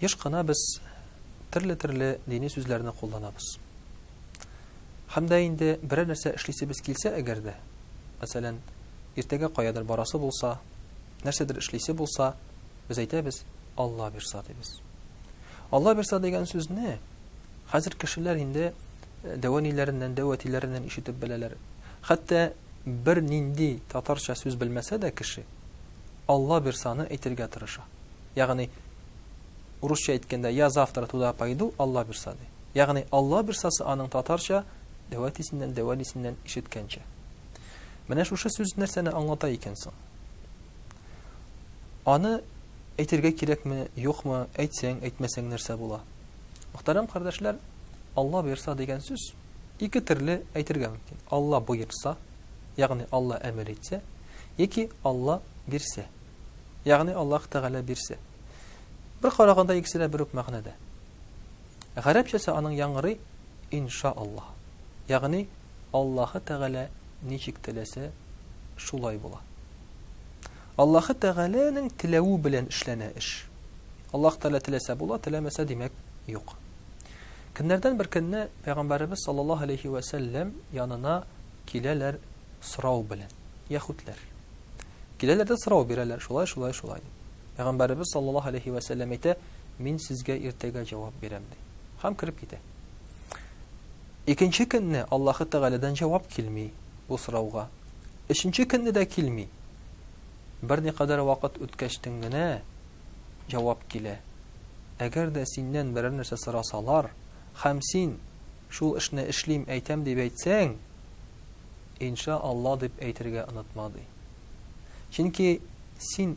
Еш кына без төрле-төрле дини сүзләрне кулланабыз. Һәм дә инде берәр нәрсә эшлисебез килсә әгәр дә, мәсәлән, иртәгә каядыр барасы булса, нәрсәдер эшлисе булса, без әйтәбез, Алла бирса дибез. Алла бирса дигән сүзне хәзер кешеләр инде э, дәвәниләреннән, дәвәтиләреннән ишетеп беләләр. Хәтта бер нинди татарча сүз белмәсә дә кеше Алла бирсаны әйтергә тырыша. Ягъни, урысча әйткәндә, я завтра туда пойду, Алла бирса, ди. Ягъни, Алла бирсасы аның татарча, дәвәтисеннән, дәвәлисеннән ишеткәнчә. Менә шушы сүз нәрсәне аңлата икән соң? Аны әйтергә кирәкме, юкмы, әйтсәң, әйтмәсәң нәрсә була? Мөхтәрәм кардәшләр, Алла бирса дигән сүз ике төрле әйтергә мөмкин. Алла боерса, ягъни Алла әмер итсә, яки Алла бирсә. Ягъни Аллаһ Тәгалә бирсә. Бер караганда икесе дә бер үк мәгънәдә. Гарәпчәсе аның яңгырый инша Аллаһ. Ягъни Аллаһы Тәгалә ничек теләсә, шулай була. Аллаһы Тәгаләнең теләве белән эшләнә эш. Аллаһ Тәгалә теләсә була, теләмәсә димәк юк. Көннәрдән бер көнне пәйгамбәребез саллаллаһу алейхи ва сәлләм янына киләләр сорау белән. Яһүдләр. Киләләр дә сорау бирәләр, шулай, шулай, шулай дип. Пәйгамбәребез саллаллаһу алейхи вә сәлләм әйтә, мин сезгә иртәгә җавап бирәм ди. Һәм кирип китә. Икенче көнне Аллаһы Тәгаләдән җавап килми бу сорауга. Өченче көнне дә килми. Берникадәр вакыт үткәчтен генә җавап килә. Әгәр дә синнән берәр нәрсә сорасалар, һәм син Шул эшне эшлим, әйтәм дип әйтсәң, Инша Алла дип әйтергә онытма, ди. Чөнки син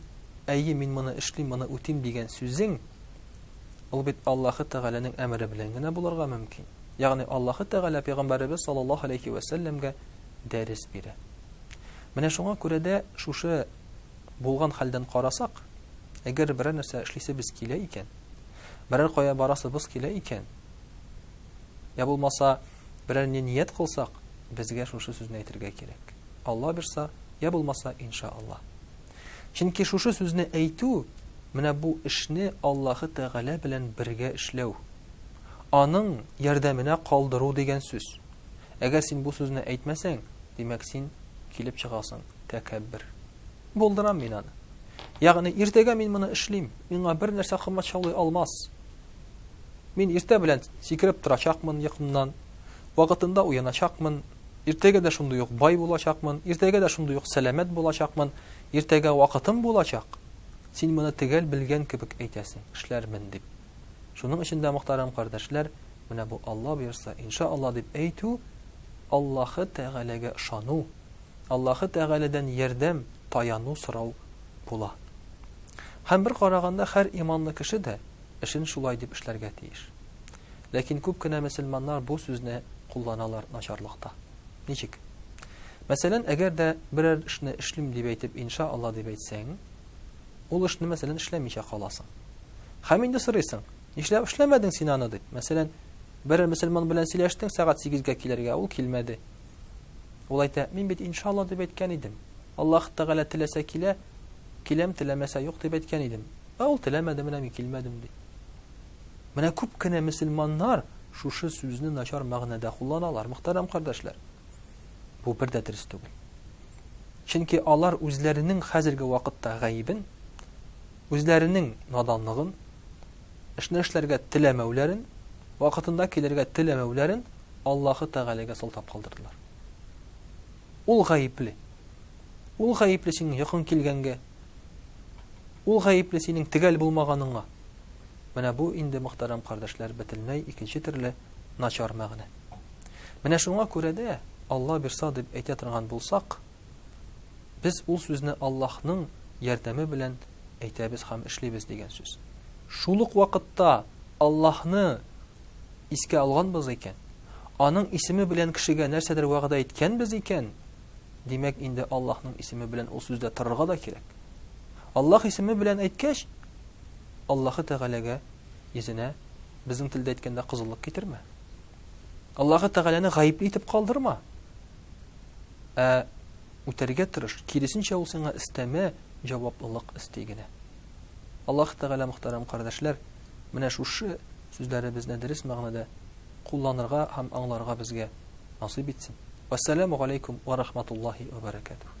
Әйе, мин моны эшлим, моны үтим дигән сүзең, ул бит Аллаһы Тәгаләнең әмере белән генә булырга мөмкин. Ягъни Аллаһы Тәгалә пәйгамбәребез саллаллаһу алейхи вә сәлләмгә дәрес бирә. Менә шуңа күрә дә шушы булган хәлдән карасак, әгәр берәр нәрсә эшлисебез килә икән, берәр кая барасыбыз килә икән, Я булмаса, берәр не ният кылсак, безгә шушы сүзне әйтергә кирәк. Алла бирса, я булмаса, инша Алла. Чөнки шушы сүзне әйтү, менә бу эшне Аллаһы Тәгалә белән бергә эшләү. Аның ярдәменә калдыру дигән сүз. Әгәр син бу сүзне әйтмәсәң, димәк син килеп чыгасың тәкәббер. Булдырам мин аны. Ягъни иртәгә мин моны эшлим, миңа бер нәрсә кымачаулый алмас. Мин иртә белән сикереп торачакмын йокымнан, вакытында уяначакмын, иртәгә дә шундый ук бай булачакмын, иртәгә дә шундый ук сәламәт булачакмын, иртәгә вакытым булачак. Син моны төгәл белгән кебек әйтәсең, эшләрмен дип. Шуның өчен дә, мөхтәрәм кардәшләр, менә бу Алла боерса, иншаалла дип әйтү, Аллаһы Тәгаләгә ышану, Аллаһы Тәгаләдән ярдәм, таяну сорау була. Һәм бер караганда һәр иманлы кеше дә эшен шулай дип эшләргә тиеш. Ләкин күп кенә мөселманнар бу сүзне кулланалар начарлыкта. Ничек? Мәсәлән, әгәр дә берәр эшне эшлим дип әйтеп инша Аллаһ дип әйтсәң, ул эшне мәсәлән эшләмичә каласың. Һәм инде сорыйсың, нишләп эшләмәдең син аны дип. Мәсәлән, берәр мөселман белән сөйләштең сәгать 8 гә килергә, ул килмәде. Ул әйтә, мин бит иншалла дип әйткән идем. Аллаһ Тәгалә теләсә килә, киләм, теләмәсә юк дип әйткән идем. Ә ул теләмәде, менә мин килмәдем ди. Менә күп кенә мөселманнар шушы сүзне начар мәгънәдә кулланалар, мөхтәрәм кардәшләр. Бу бер дә дөрес түгел. Чөнки алар үзләренең хәзерге вакытта гаебен, үзләренең наданлыгын, эшне эшләргә теләмәүләрен, вакытында килергә теләмәүләрен Аллаһы Тәгаләгә сылтап калдырдылар. Ул гаепле. Ул гаепле синең якын килгәнгә. Ул гаепле синең тегәл булмаганыңа. Менә бу инде мөхтәрәм кардәшләр бөтенләй икенче төрле начар мәгънә. Менә шуңа күрә дә Алла бирса дип әйтә торган булсак, Без ул сүзне Аллаһның ярдәме белән әйтәбез һәм эшлибез дигән сүз. Шул ук вакытта Аллаһны искә алганбыз икән, аның исеме белән кешегә нәрсәдер вәгъдә иткәнбез икән, димәк инде Аллаһның исеме белән ул сүздә торырга да кирәк. Аллаһ исеме белән әйткәч, Аллаһы Тәгаләгә йөзенә безнең телдә әйткәндә кызыллык китермә. Аллаһы Тәгаләне гаепле итеп калдырма. Ә үтәргә тырыш, киресенчә ул сиңа өстәмә җаваплылык өсти генә. Аллаһ Тәгалә, мөхтәрәм кардәшләр, менә шушы сүзләребезне дөрес мәгънәдә кулланырга һәм аңларга безгә насыйп итсен. Вассаламу галәйкүм ва рахматуллаһи ва баракатуһ.